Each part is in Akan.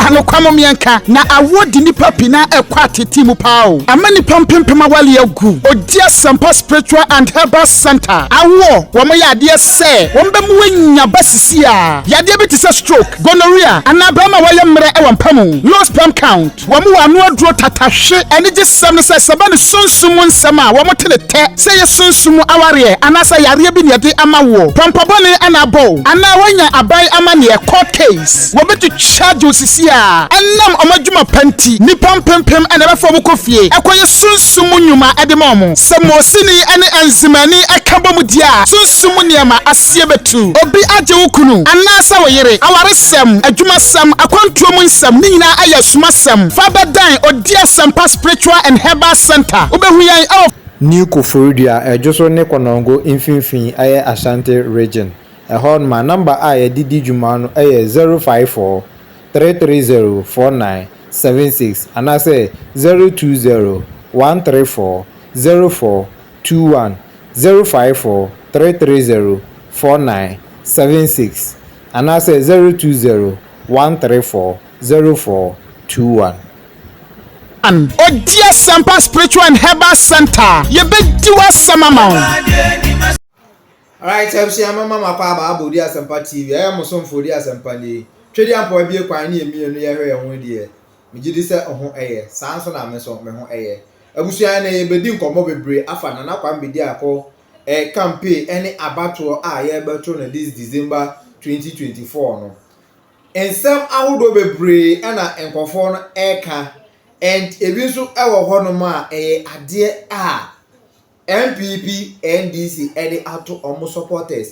anokwa mo mmiɛnka na awoɔ di nipa pi na ɛkɔ atete mu paa o ama nipa mpempem awale agu ɔdi asɛmpa spiritual and herbal center awoɔ wɔn yɛ adeɛ sɛ wɔn bɛ mu anya ba sisi a yadeɛ bi te sɛ stroke gonorrhea anaa bɛrima wɔyɛ mmerɛ ɛwɔ mpa mu low sperm count Wɔn wɔ ano aduro tata hwe anigye sɛm no sɛ sɛbɛ ne sunsum mu nsɛm a wɔn te ne tɛ sɛ ɛyɛ sunsum mu awareɛ anaasɛ yareɛ bi na yɛde ama woɔ pɔmpɔ bɔne na abɔ wo anaa woanya aban amaneɛ court case wɔbɛtu charge wo sisi a ɛnam wɔn adwuma pa nti nnipa mpempem na ɛbɛfa wɔn kɔ fie ɛkɔyɛ sunsum mu nnwuma de ma wɔn sɛ mosini ne enzimani ɛka bɔ mu di a sunsum mu nneɛma adanseɛ bɛtu. Obi agye wo kunu anaasɛ wo yere awaresɛm, adwumasɛm, akwantuo mu nsɛm, ne nyinaa ayɛ asumasɛm. Fa bɛdɛn Odie Asɛmpa Spiritual and Herbal Centre. Wobɛhu yɛn wɔ. New Koforidua, Ɛdwoso ne Konongo mfimfini ɛyɛ Ashanti Region. Ɛhɔ nom a number a yɛde di dwuma no ɛyɛ zero five four, three three zero, four nine seven six anaasɛ zero two zero, one three four, zero four, two one zero five four three three zero four nine seven six anaasɛ zero two zero one three four zero four two one. An ɔdi asɛmpa spiritual and herbal center yɛbɛdi w'asɛm ama wo. Alright abusua mama mo akɔ aba abɔ odi asɛmpa TV ɛyɛ mo somfo odi asɛmpa nie twɛdi ampa wabie kwan ne yɛ mmienu yɛhwɛ yɛn ho deɛ Megye di sɛ wo ho yɛ. Saa ara nso na me nso me ho yɛ. Abusua nnɛ yɛbɛdi nkɔmmɔ bebree afa Nana Kwambi Diako campaign ne abatoɔ a yɛrebɛto no this December 2024 no. Nsɛm ahodoɔ bebree na nkurɔfoɔ no reka and ebi nso wɔ hɔnom a ɛyɛ adeɛ a NPP NDC de ato wɔn supporters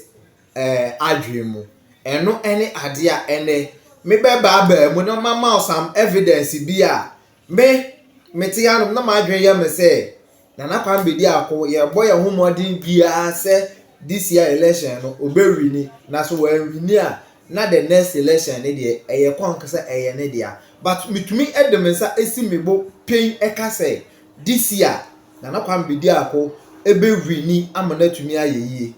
adwene mu. Ɛno ne adeɛ a ɛnnɛ me bɛ baa baa mu na mama wo some evidence bi a me me te anom na m'adwene yɛ me sɛ Nana Kwame Bediako yɛbɔ yɛn ho mmɔden biara sɛ this year election no obɛwini na so wɔanwini a na the next election ne deɛ ɛyɛ kɔnk sɛ ɛyɛ ne dea but metumi de me nsa si me bo pen ɛka sɛ This year Nana Kwambe di ako ɛbɛ wini ama no atumi ayɛ yie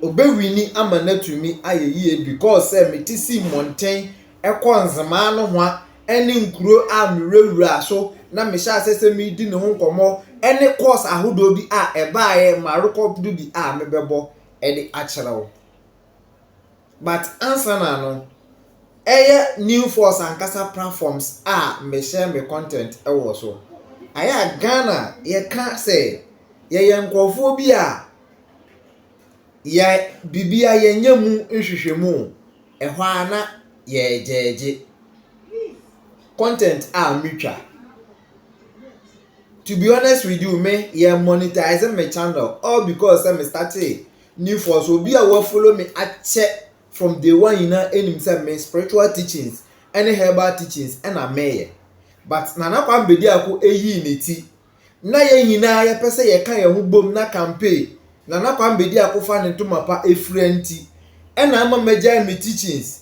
ɔbɛ wini ama no atumi ayɛ yie because sɛ me te si mmɔnten ɛkɔ nzemaa no hoa ɛne nkuro a me wurawura so na me hyɛ asɛ sɛ me di ne ho nkɔmɔ ɛne course ahodoɔ bi a ɛbaeɛ ma rekɔpdo bi a me bɛbɔ ɛde akyerɛ wo. but ansana no ɛyɛ new force ankasa platforms a me share me content wɔ so ayɛ a Ghana yɛka sɛ yɛyɛ nkorɔfoɔ bi a yɛ bibia yɛnyɛ mu nhwehwɛmu ɛhɔ ara na yɛgyɛɛgye content a me twa to be honest with you me yɛ monetize me channel all because sɛ me startee ne mfɔso obi a wa follow me akyɛ from day one nyinaa nim sɛ me spiritual teachings ɛne herbal teachings ɛna meyɛ but Nana Kwame Bediako ɛyii ne ti na yɛn nyinaa yɛ pɛ sɛ yɛ ka yɛn ho bom na campaign Nana Kwame Bediako fa ne ntoma pa ɛfira nti ɛna ama magyae me teachings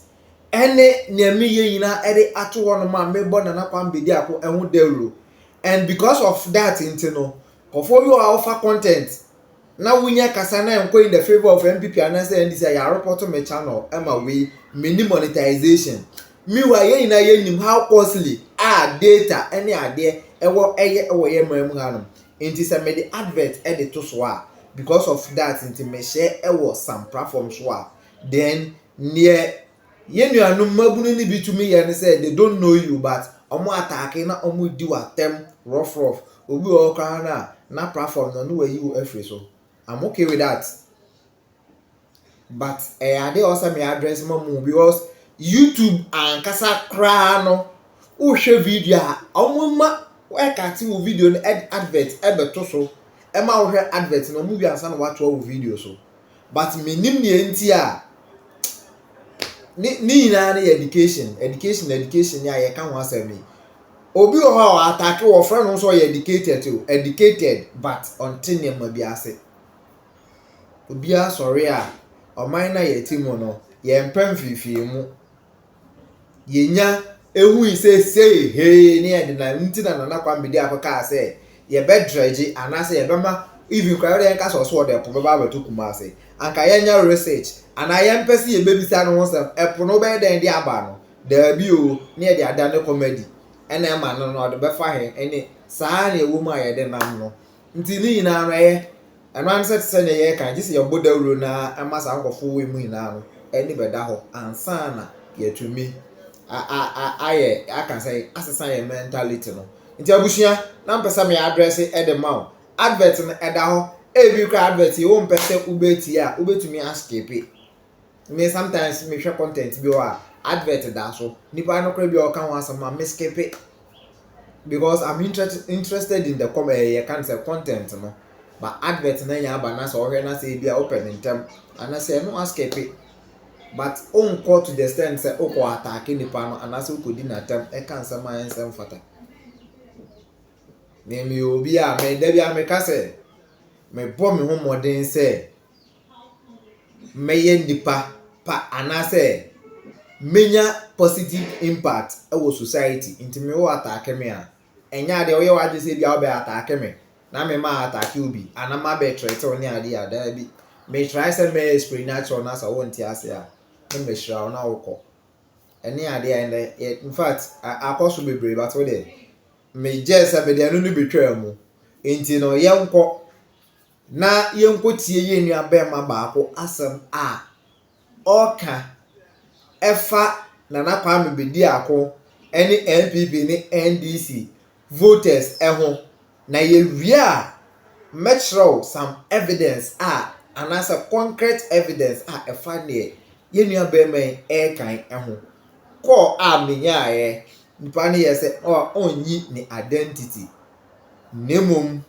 ɛne nea meyɛ nyinaa ɛde ato hɔ no ma mebɔ Nana Kwame Bediako ɛho dawuro and because of that nti no kɔfɔ bi wɔ a wofa content na wonya kasa na ɛnkɔ in the favour of NPP anaasɛ NDC a yɛ report me channel ɛma wei menni monetization meanwhile yɛn nyinaa yɛnim how costly a data ɛne adeɛ ɛwɔ ɛyɛ ɛwɔ yɛ mmerɛ mu hanom nti sɛ mede advert ɛde to so a because of that nti mehyɛ ɛwɔ some platform so a then neɛ Yɛn nuanom mmabunu no bi tumi yɛ ne sɛ they don't know you but ɔmo ataake na ɔmo di wo atɛm rough rough, obi wɔ hɔ koraa no a na platform no na wayi wo afiri so, I'm okay with that but ɛyɛ adeɛ a ɔsɛ me address ma mu because YouTube ankasa koraa no wohwɛ video a ɔmo ma ɛkate wo video no ɛde advert ɛbɛto so ɛma wohwɛ advert no ɔmo wie ansa na watoa wo video so. but menim deɛ nti a ne ne nyinaa no yɛ education education education ni a yɛka ho asɛm yi obi wɔ hɔ a wɔatake wɔfrɛ no nso ɔyɛ educated o educated but ɔnte nneɛma bi ase obiara sɔre a ɔman no a yɛte mu no yɛmpɛ mfimfini mu yɛnya hui sɛ sei hee ne yɛ de na nti na Nana Kwame de akɔ kaa sɛ yɛbɛ dredge anaasɛ yɛbɛma even kora yɛde yɛnka sɛ ɔso ɔde ɛpo bɛba abɛto Kumasi anka yɛnyɛ research anaa yɛmpɛ sɛ yɛbɛbisa no ho sɛm ɛpo no bɛyɛ dɛn de aba no daabi o ne yɛde ada ne kɔmadi ɛna ɛma no no ɔde bɛfa he ɛne saa ne ɛwɔ mu a yɛde nam no Nti ne nyinaa no ɛyɛ, ɛno ara ne sɛ te sɛ nea yɛreka no, gye sɛ yɛbɔ dawuro no ara ma saa nkurɔfoɔ wɔ mu nyinaa no ani bɛda hɔ ansa na yɛatumi a a a ayɛ aka sɛ asesa yɛn mentality no. Nti abusua, na mpɛ sɛ me address de ma wo. Advert no ɛda hɔ, ebi koraa advert yi wompɛ sɛ wobɛtie a wobɛtumi askipe. Me sometimes me hwɛ content bi wɔ a advert da so nipa no koraa bi a ɔka ho asɛm ma me skip it because I'm interested interested in the com ɛɛ eh, yɛ kan sɛ content no ba advert na nya aba na sɛ ɔhwɛ na sɛ ebi a ɔpɛ ne ntɛm anasɛ ɛno a skip it but onkɔ to the extent sɛ okɔ ataake nipa no anasɛ okɔ di n'atɛm ɛka nsɛm a ɛnsɛm fata na emi obi a mɛ dabi a mɛ ka sɛ mɛ bɔ me ho mmɔden sɛ. mɛyɛ nipa pa anaasɛ menya positive impact wɔ society nti me wo ataake me a ɛnyɛ adeɛ woyɛ w'adwene sɛ bia wobɛ ataake me na me ma ataake obi anaa ma bɛ trɛte wo ne adeɛ a daa bi me try sɛ mɛ spray natural na sɛ wo nte ase a ne mɛ hyira wo na wokɔ ɛne adeɛ a ɛnɛ in fact akɔ so bebree but wo deɛ me gyɛ sɛ me deɛ no no betwaa mu nti no yɛnkɔ Na yɛnkɔtie yɛn nuabarima baako asɛm a ɔreka ɛfa Nana Kwame Bediako ne NPP ne NDC voters ho. Na yɛwie a, mɛkyerɛ wo some evidence a, anaasɛ concrete evidence a ɛfa deɛ yɛn nuabarima yi reka yi ho. Call a menyaeɛ, nipa no yɛɛ sɛ ɔnnyi ne identity, na mmom.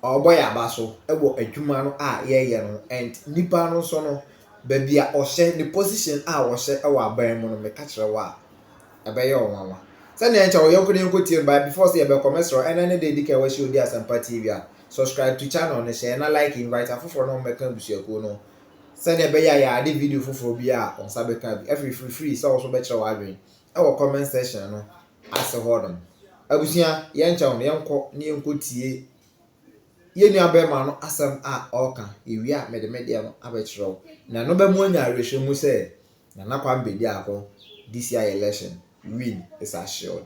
ɔbɔ yɛn aba so wɔ adwuma no a yɛyɛ no ho and nipa no nso no baabi a ɔhyɛ ne position a ɔhyɛ wɔ aban mu no meka kyerɛ wo a ɛbɛyɛ wo nwanwa sɛnea nkyɛ wo yɔnko ne yɔnko tie no by before sɛ yɛbɛkɔ mɛsrɛ ɛnɛ ne de di kan wɔahyɛ odi asɛmpa tv a subscribe to channel no hyɛ na like invite afoforɔ na wɔmmɛka abusuakuo no sɛnea ɛbɛyɛ a yɛade video foforɔ bi a wɔn nsa bɛka bi afiri firifiri sɛ wɔso bɛkyerɛ w'adwene wɔ comment section no ase hɔ nom. Abusua yɛnkyɛ wɔn, yɛnkɔ na yɛnkɔ tie yɛn nua bɛrima no asɛm a ɔreka, yɛwie a mede me deɛ no abɛkyerɛ wo. Na ɛno bɛmu anya awerɛhyɛ mu sɛ Nana Kwame Bediako, this year election, win is assured.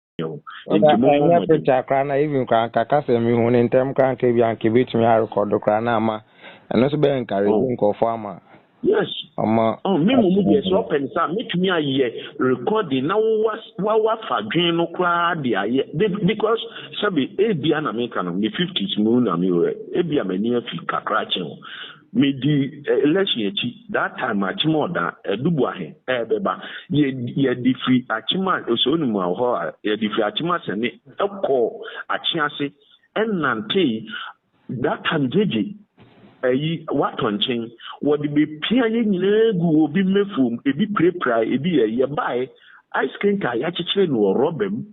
ɛnyɛ picture koraa na even koraa nka kasa mi hu ne ntɛm koraa nka bi anka ebetumi arekɔdo koraa na ama ɛno nso bɛyɛ encourage oh. nkurɔfoɔ ama yes ɔma oh, me mu mu deɛ sɛ ɔpɛ ne saa mɛtumi ayɛ recording na wawafa dwen no koraa de ayɛ because sɛbe ebia na meka no me fifties mu na mewerɛ ebia m'ani afi kakra kyɛn o Me di election akyi that time akyem ɔda adubu ahe ɛbɛba yɛ yɛ de firi akyem a osɛ onimu a ɔhɔ a yɛ de firi akyem asɛne ɛkɔ akye ase ɛnantee that time gyegye ayi watɔ nkyen wɔde bɛ pia yɛ nyinaa gu obi mɛfuom ebi pirapira ebi yɛ yɛ baɛ ice cream ka yakyekyere no wɔ rɔba mu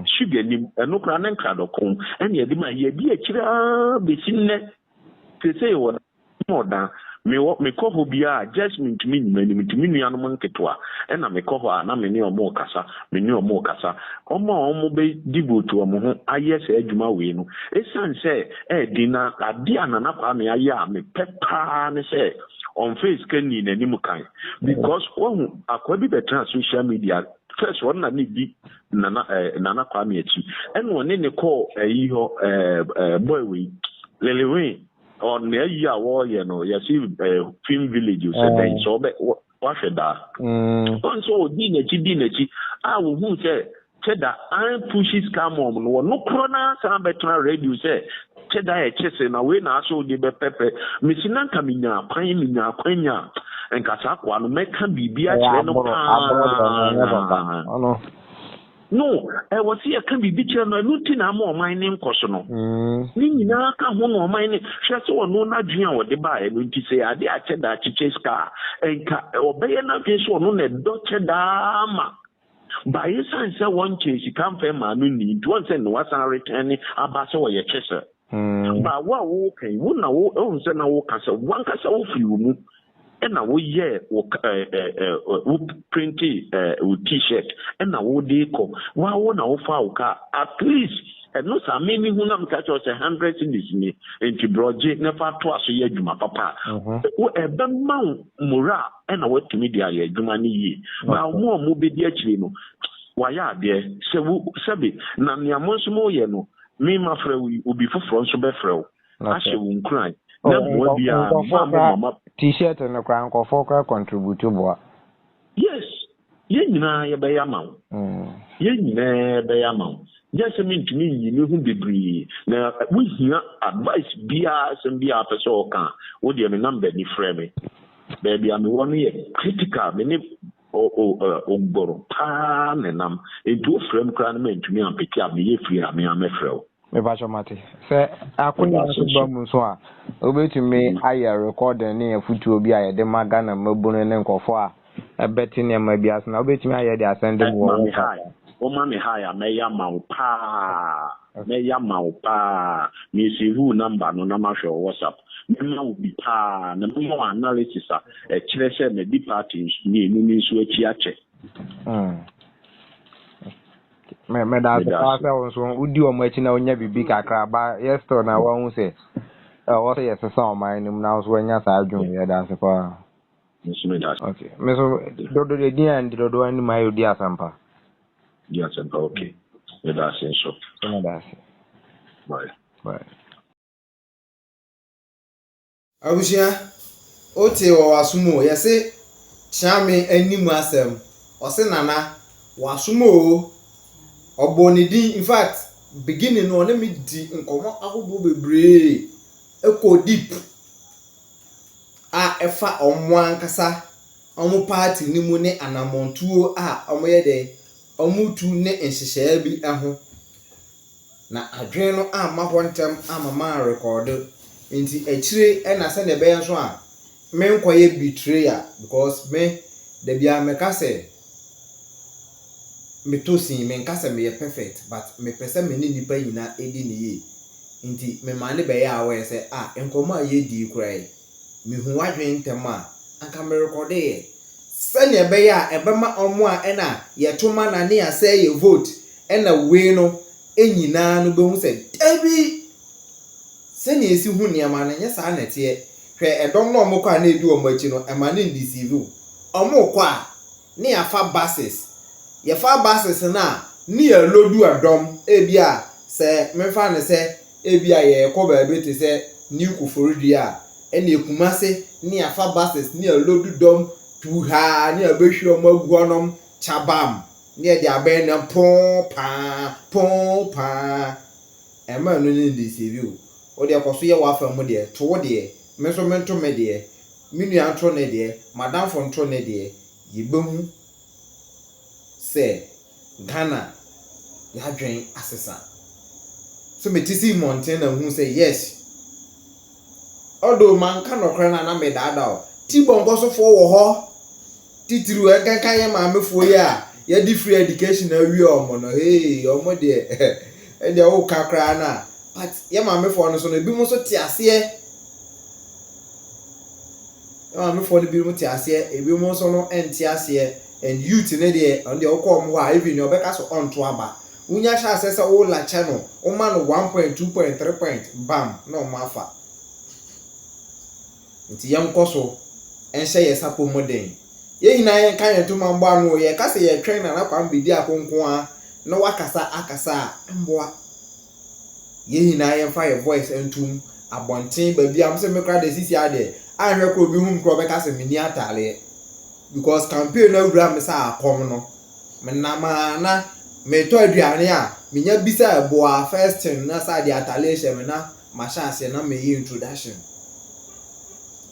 sugar nim ɛno koraa ne nkradɔko ɛne ɛde ma yɛ di akyire aa bɛsi nnɛ Sesei wɔ Ɔwɔ Dan. Me wɔ me kɔ hɔ biara a just me ntumi nyi m'ani me to me nua no mo nketewa ɛna me kɔ hɔ a na me ne ɔmo kasa me ne ɔmo kasa ɔmo a ɔmo bɛ devote ɔmo ho ayɛ saa adwuma wei no ɛsiane sɛ ɛyɛ den na adeɛ a Nana Kwame ayɛ a me pɛ paa ne sɛ ɔnfɛɛ sika nnii n'anim kan because wahu akoa bi bɛtena social media first ɔno na ne di Nana ɛɛ eh, Nana Kwame akyi ɛna ɔne ne kɔɔ ayi hɔ ɛɛ eh, eh, boy wei Lele Wayne ɔne ayi a wɔreyɛ no yɛsi ɛɛ eh, film village sɛ mm. bɛn sɛ ɔbɛ wahwɛ daa mm. ɔn sɛ ɔdi n'akyi di n'akyi a wɔhu sɛ sɛ da an pushi scam wɔn no wɔn no korɔ na san bɛtena radio sɛ Kyɛ da a ɛkyɛ sɛ na wei na asɛ wo de bɛpɛpɛ. Mese na nka menyaa kwan, menyaa akwanya a, nka saa akoa no mɛka biribi Ɛyɛ akyerɛ no aboro, paa. aboro dɛ no ɛnyɛ papa. Ɔno. No, ɛwɔ sɛ yɛka biribi kyerɛ no, ɛno nti na ama ɔman no nkɔso no. Mm. Ne nyinaa ka ho na ɔman no, hwɛ sɛ ɔno n'adwene a ɔde baeɛ no nti, sɛ ɛyɛ adeɛ a kyɛ da kyekyɛ sika a, nka ɔbɛyɛ n'adwene sɛ ɔno na ɛdɔ kyɛ da ara ma But esiane sɛ wɔnkyɛɛ sika mfɛe mmaa no nni nti wɔn sɛ Noah san retɛne aba sɛ ɔyɛ kyesɛ. But wo a woreka yi, wo na wo ɛwom sɛ na woreka sɛ wankasa wofiri wo mu ɛna woyɛɛ wo wo printee wo T-shirt ɛna wode rekɔ. Wo ara wo na wofaa wo car at least ɛno saa me mehu na meka kyerɛ wo sɛ hundred cedis nie nti brɔ gye na fa toa so yɛ adwuma papa a ɛbɛma wo morale. na wɔatumi de ayɛ adwuma no yie. Na wɔn a wɔbɛdi akyire no, wɔayɛ adeɛ. Sɛ wo, sɛbe, na nea mo nso moreyɛ no, me mafrɛ wo yi, obi foforɔ nso bɛfrɛ wo ahyɛ wo nkuran. Na mmoa biara, mo a mo mma. T-shirt no koraa, nkurɔfoɔ koraa contribute boa. Yes, Yɛn nyinaa yɛbɛyɛ ama wo. Yɛn nyinaa bɛyɛ ama wo. Gye sɛ mentumi nyi me ho bebree na wohia advice biara asɛm biara apɛ sɛ ɔka a, wo deɛ me number ni frɛ me. Baabi a mewɔ no yɛ critical, me ne Ogbor paa na ɛnam, nti wofrɛ me koraa na mantumi ampeke a meyɛ free a me ara mɛfrɛ wo. Mepakyɛ mate. Sɛ akonya nso ba mu nso a, wobɛtumi ayɛ recording ne afutuo bi a yɛde ma Ghana mmabunu ne nkurɔfoɔ a. Ɛbɛte nneɛma bi ase na wobɛtumi ayɛ de asɛn de boɔ wo papa. Woma me high a mɛyɛ ama wo paa Mɛyɛ ama wo paa Me save wo number no na mahwɛ wɔ WhatsApp Mɛma wo bi paa Na mɛma wo analysis a ɛkyerɛ sɛ madi party mmienu no nso akyi akyɛ Me meda ase paa sɛ wo nso wodi wɔn akyi na wonya biribi kakra ba yɛ still na woahu sɛ ɛwɔ sɛ yɛsesa ɔman no mu na wo nso woanya saa adwene Yɛda ase paa Nso me da. Okay. Me so dodo de din a ndi dodo ani ma yo di asempa. Di asempa okay. Me da ase nso. Me da ase. Bye. Bye. Abusua, o te wɔ w'asom o, yɛ se kyea me ani mu asɛm, ɔ se Nana, w'asom o, ɔ bɔ ne din, in fact, beginning no ɔ ne me di nkɔmmɔ ahodoɔ bebree, ɛkɔ deep. a ɛfa wɔn ankasa wɔn party no mu ne anamɔntuo a wɔyɛ dɛ wɔretu ne nhyehyɛɛ bi ho. Na adwene no amma hɔ ntɛm amma manrekɔɔdo, nti akyire na sɛdeɛ ɛbɛyɛ nso a menkɔyɛ betrayer because me dabiara meka sɛ metɔ sin, menka sɛ meyɛ perfect but mepɛ sɛ me ne nnipa nyinaa di no yie. Ntsi memaa no bɛyɛɛ a ɔyɛ sɛ, ah, nkɔmbɔ a yedii yi koraa yi, mehu w'adwen ntsɛm a, anka merekɔdo yɛ. Sɛnea ɛbɛyɛ a ɛbɛma wɔn a nna yɛto ma na ne yɛasɛe yɛn vote na wei no nyinaa no behu sɛ, dabi, sɛnea esi hu nneɛma no, ɛnyɛ saa na ɛteɛ. Hwɛ, ɛdɔm no a wɔkɔ a na edi wɔn akyi no, ɛma no 'indeceive' wo. Wɔkɔ a, ne yɛafa buses. Yɛfa buses no a, ne yɛaloadu ɛdɔm. Ebia sɛ memfa no sɛ ebia yɛrekɔ baabi te sɛ New Koforidua a, ɛnneɛ Kumase ne yɛafa buses ne yɛaloadu dɔm tuuhaa ne yɛabɛhwie wɔn agu hɔnom kyabam ne yɛde abɛn ne ho poo paa, poo paa. Ɛmma ɛno no nndeceive wo. Wo deɛ kɔ so yɛ w'afa mu deɛ, to wo deɛ Me nso mento me deɛ, me nua nto ne deɛ, m'adamfo nto ne deɛ, yɛbɛhu sɛ Ghana y'adwen asesa. So mete sii mmɔnten na nhu sɛ yes. Although manka nɔkorɛ no a na medaadaa o, T-Bone nkɔsofoɔ wɔ hɔ. Titiriw ɛnkenka yɛn maamefoɔ yi a yɛde free education awie wɔn no hey wɔn deɛ ɛndeɛ woka koraa no a but yɛn maamefoɔ no so no ebinom nso te aseɛ yɛn maamefoɔ no binom te aseɛ ebinom nso no ɛnte aseɛ and youth ne deɛ ɔno deɛ wokɔ wɔn hɔ a even deɛ ɔbɛka so ɔnto aba wonya hyɛ aseɛ sɛ wo lakyɛ no woma no one point two point three point bam na wɔn afa. Nti yɛnkɔ so nhyɛ yɛn sapɔ mu den. Yɛn nyinaa yɛnka yɛn ntoma mmɔ ano o. Yɛka sɛ yɛretwɛn Nana Kwame Bediako nko ara na wakasa akasa a, ɛmmoa. Yɛn nyinaa yɛmfa yɛn voice nto mu, abɔnten, baabiara. Me sɛ me koraa deɛ seesei ara deɛ, anhwɛ koraa obi hu me koraa ɔbɛka sɛ menni atadeɛ. Because campaign no awura me sɛ akɔm no, menam a na meretɔ aduane a, menya bisa boa, first thing na sɛ adeɛ atadeɛ hyɛ me na mahyɛ aseɛ na meyɛ introduction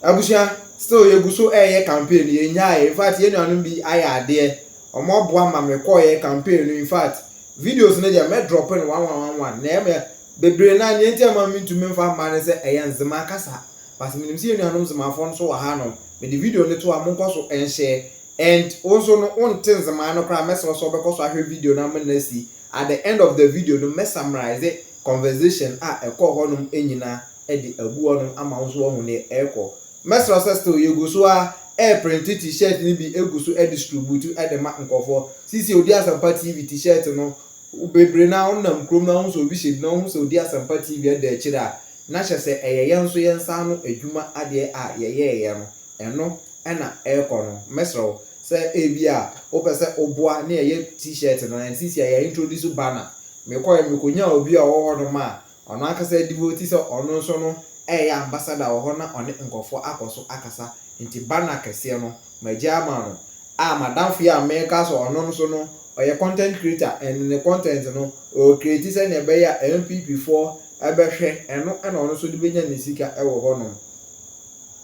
abusua still yɛgu so ɛyɛ campaign no yɛnyaeɛ infact yɛn nuanom bi ayɛ adeɛ wɔn aboa ma mekɔeɛ campaign no infact videos no deɛ mɛdrɔpe no one one one one na ɛmɛ bebree no a neɛ nti ɛma mentumi mfa mma no sɛ ɛyɛ nzema kasa but menim sɛ yɛn nuanom nzemafoɔ nso wɔ ha nom mede video no to a monkɔ so nhyɛ and wo nso no wonte nzema no koraa mɛsrɛ sɛ wobɛkɔ so ahwɛ video no ama no asi at the end of the video no mɛ summarize Conversation a ɛkɔ hɔ nom nyina de agu hɔ nom ama wo nso wahu neɛ ɛrekɔ. Mɛsrɛ wo sɛ still yɛgu so ara ɛreprinte T-shirt no bi gu so ɛdistrubutu de ma nkorɔfoɔ. Seisei Odi Asɛmpa TV T-shirt no bebree no ara wo nam kurom no ara wohu sɛ obi hyɛ bi na wohu sɛ Odi Asɛmpa TV ada akyire a na kyerɛ sɛ ɛyɛ yɛn nso yɛn nsa ano adwuma adeɛ a yɛyɛɛyɛ no. Ɛno na ɛrekɔ no. Mɛsrɛ wo sɛ ebia wopɛ sɛ woboa ne yɛyɛ T-shirt no, and seesei yɛ introduce banner. Mekɔeɛ mekɔnyaa obi a ɔwɔ hɔnom a ɔno ankasa devote sɛ ɔno nso no reyɛ ambassador wɔ hɔ na ɔne nkurɔfoɔ akɔ so akasa. Nti banner kɛseɛ no magyae ama no. A m'adamfo yi a mereka sɛ ɔno nso no ɔyɛ content creator and ne content no ɔrecreate sɛdeɛ ɛbɛyɛ a NPP foɔ bɛhwɛ, ɛno na ɔno nso de bɛnya ne sika wɔ hɔnom.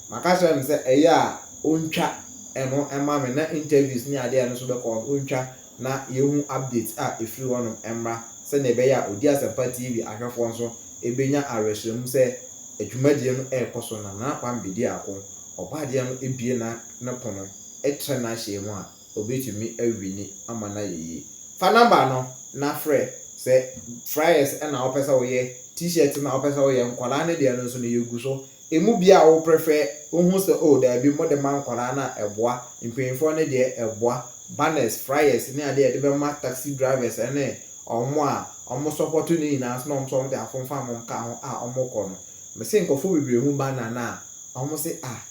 Maka kyerɛ no sɛ ɛyɛ a ɔntwa ɛno mma me na interviews ne adeɛ a ɛno nso bɛkɔ hɔ no ɔntwa na yɛhu updates a ɛfiri hɔnom mmra sɛdeɛ ɛbɛyɛ a Ɔdi Asɛmpa TV ahwɛfoɔ nso bɛnya awerɛhyerɛmu sɛ adwumadie no rekɔ so na Nana Kwame bɛdi ako. Ɔbɔadeɛ no bue na ne pono kyerɛ n'ahyɛɛ mu a. obetumi awi ni ama no ayɛ yie. Fa number no na frɛ, sɛ fryers na wopɛ sɛ woyɛ, t-shirt na wopɛ sɛ woyɛ, nkwadaa no deɛ no nso no yɛgu so. Ɛmu biara a wo prefer, wohu sɛ oh daabi mode ma nkwadaa no a ɛboa, mpanyinfoɔ no deɛ ɛboa, banners, fryers ne adeɛ a yɛde bɛma taxi drivers ne wɔn a wɔn support no nyinaa nso na wɔn nso wɔn de afomfam nka ho a wɔkɔ no. Mese nkorɔfoɔ bebree hu banner no a wɔn se ah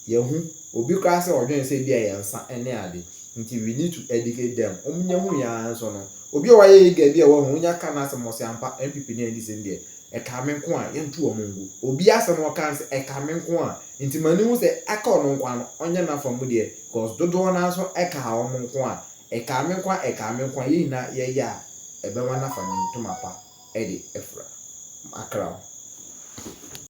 Yɛhu obi koraa sɛ ɔdwen sɛ ebia yɛn nsa ne ade nti we need to educate them. Wɔn nya hu yɛn ara nso no obi a wayɛ yɛn gaabi a wahu wɔn nya ka n'asɛm wɔ se ampa NPP ne NDC no deɛ ɛkaa me nko a yɛnto wɔn ngu. Obi asɛm a ɔkaa no sɛ ɛkaa me nko a nti m'ani hu sɛ ɛka ɔno nko a no ɔnyɛ n'afa mu deɛ cos dodoɔ no ara nso ɛkaa wɔn nko a ɛkaa me nko a ɛkaa me nko a yɛn nyinaa yɛyɛ a ɛbɛma no afa ne ntoma pa de afura. Makra wo.